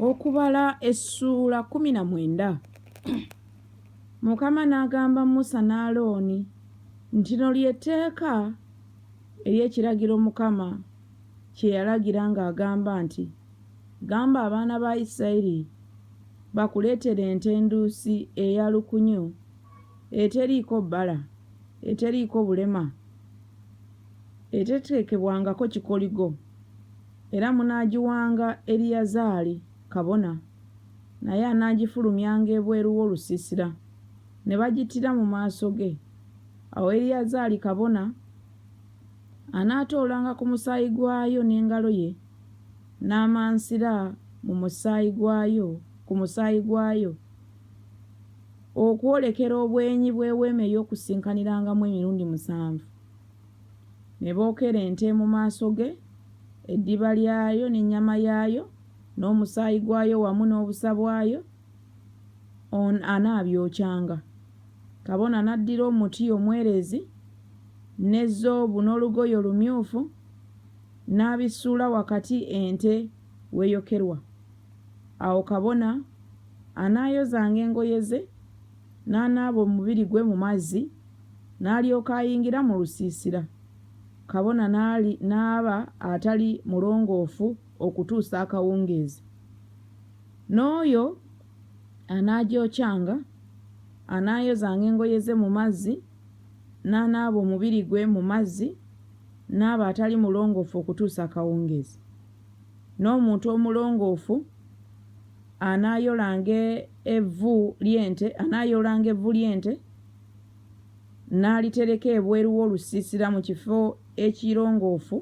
Okubala essuula kkumi na mwenda Mukama n'agamba Musa ne Alooni nti lino lye tteeka ery'ekiragiro Mukama kye yalagira ng'agamba nti, Gamba abaana ba Isirayiri bakuleetere ente enduusi eya lukunyu eteriiko bbala, eteriiko bulema, eteteekebwangako kikoligo. Era munaagiwanga Eriyazaali kabona, naye anaagifulumyanga ebweru w'olusiisira, ne bagittira mu maaso ge. Awo Eriyazaali kabona anaatoolanga ku musaayi gwayo n'engalo ye, n'amansira mu musaayi gwayo, ku musaayi gwayo, okwolekera obwenyi bw'Eweema ey'Okukuŋŋaanirangamu emirundi musanvu. Ne bookera ente mu maaso ge, eddiba lyayo n'ennyama yaayo, n'omusaayi gwayo wamu n'obusa bwayo, on anaabyokyanga. Kabona n'addira omuti omwerezi, ne zoobu n'olugoye olumyufu, n'abisuula wakati ente w'eyokerwa. Awo kabona anaayozanga engoye ze, n'anaaba omubiri gwe mu mazzi, n'alyoka ayingira mu lusiisira. Kabona n'aba atali mulongoofu okutuusa akawungeezi. N'oyo anaagyokyanga anaayozanga engoye ze mu mazzi, n'anaaba omubiri gwe mu mazzi, n'aba atali mulongoofu okutuusa akawungeezi. N'omuntu omulongoofu anaayolanga evvu ly'ente, anaayoolanga evvu ly'ente n'alitereka ebweru w'olusiisira mu kifo ekirongoofu,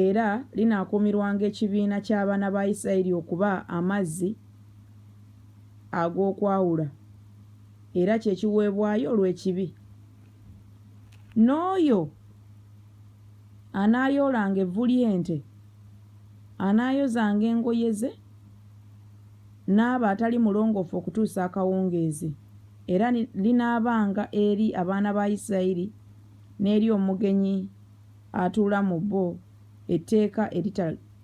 era linaakuumirwanga ekibiina ky'abaana ba Isiraeri okuba amazzi ag'okwawula, era kye kiweebwayo olw'ekibi. N'oyo. anaayoolanga evvu ly'ente, anaayozanga engoye ze, n'aba atali mulongoofu okutuusa akawungeezi, era linaabanga eri abaana ba Isirayiri n'eri omugenyi atuula mu bo etteeka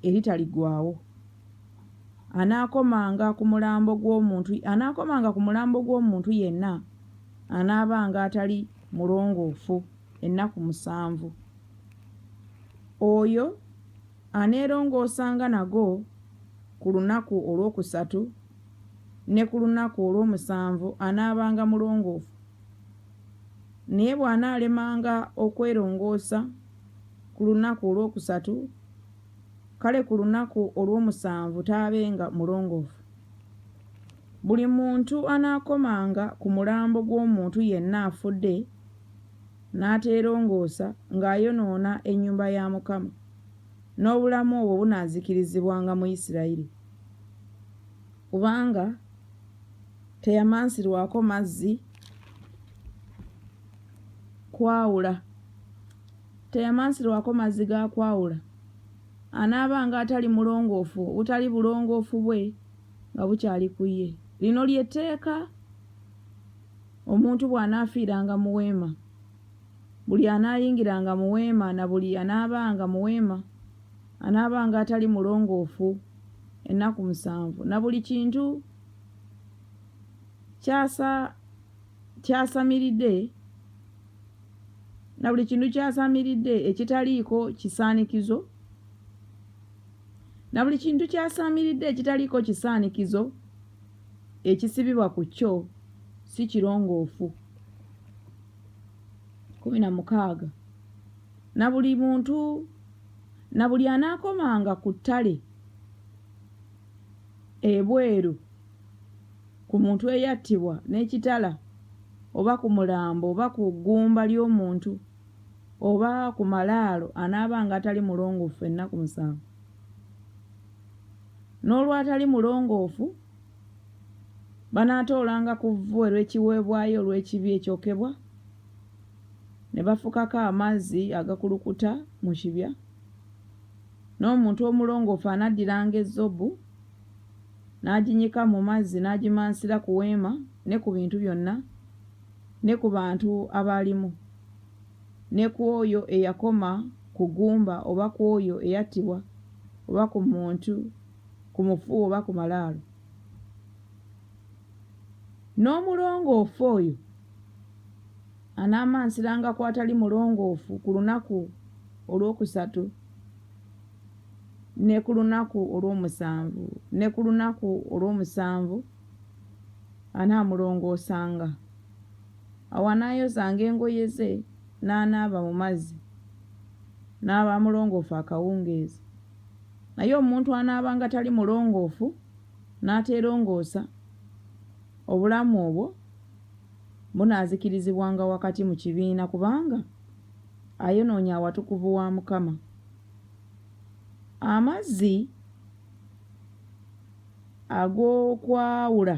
eritaligwaawo. Anaakomanga ku mulambo gw'omuntu, anaakomanga ku mulambo gw'omuntu yenna anaabanga atali mulongoofu. ennaku musanvu. Oyo aneerongoosanga nago ku lunaku olwokusatu ne ku lunaku olw'omusanvu anaabanga mulongoofu. Naye bw'anaalemanga okwerongoosa ku lunaku olwokusatu, kale ku lunaku olw'omusanvu taabenga mulongoofu. Buli muntu anaakomanga ku mulambo gw'omuntu yenna afudde n'ateerongoosa ng'ayonoona ennyumba ya Mukama, n'obulamu obwo bunaazikirizibwanga mu Yisirayiri, kubanga teyamansirwako mazzi kwawula, teyamansirwako mazzi ga kwawula, anaabanga atali mulongoofu, obutali bulongoofu bwe nga bukyali ku ye. Lino lye tteeka Omuntu bw'anaafiiranga mu weema, buli anaayingiranga mu weema na buli anaabaanga mu weema anaabanga atali mulongoofu ennaku musanvu, na buli kintu kyasa kyasamiridde na buli kintu kyasamiridde ekitaliiko kisaanikizo na buli kintu kyasamiridde ekitaliiko kisaanikizo. ekisibibwa ku kyo si kirongoofu. kumi na mukaaga na buli muntu na buli anaakomanga ku ttale ebweru ku muntu eyattibwa n'ekitala oba ku mulambo oba ku ggumba ly'omuntu oba ku malaalo anaabanga atali mulongoofu ennaku musanvu. n'olwatali mulongoofu, banaatoolanga ku vvu erw'ekiweebwayo olw'ekibi ekyokebwa, ne bafukako amazzi agakulukuta mu kibya, n'omuntu omulongoofu anaddiranga ezzobu n'aginyika mu mazzi n'agimansira ku weema ne ku bintu byonna ne ku bantu abaalimu. ne ku oyo eyakoma ku ggumba oba ku oyo eyattibwa oba ku muntu, ku mufu oba ku malaalo. N'omulongoofu oyo anaamansiranga ku atali mulongoofu ku lunaku olwokusatu, ne ku lunaku olw'omusanvu, ne ku lunaku olw'omusanvu anaamulongoosanga. Awo anaayozanga engoye ze, n'anaaba mu mazzi, n'aba mulongoofu akawungeezi. Naye omuntu anaabanga tali mulongoofu, n'ateerongoosa, obulamu obwo bunaazikirizibwanga wakati mu kibiina, kubanga ayonoonye awatukuvu wa Mukama. Amazzi ag'okwawula.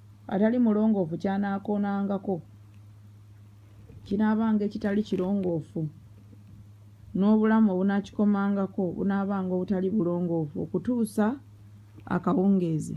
atali mulongoofu ky'anaakoonangako kinaabanga ekitali kirongoofu, n'obulamu obunaakikomangako bunaabanga obutali bulongoofu okutuusa akawungeezi.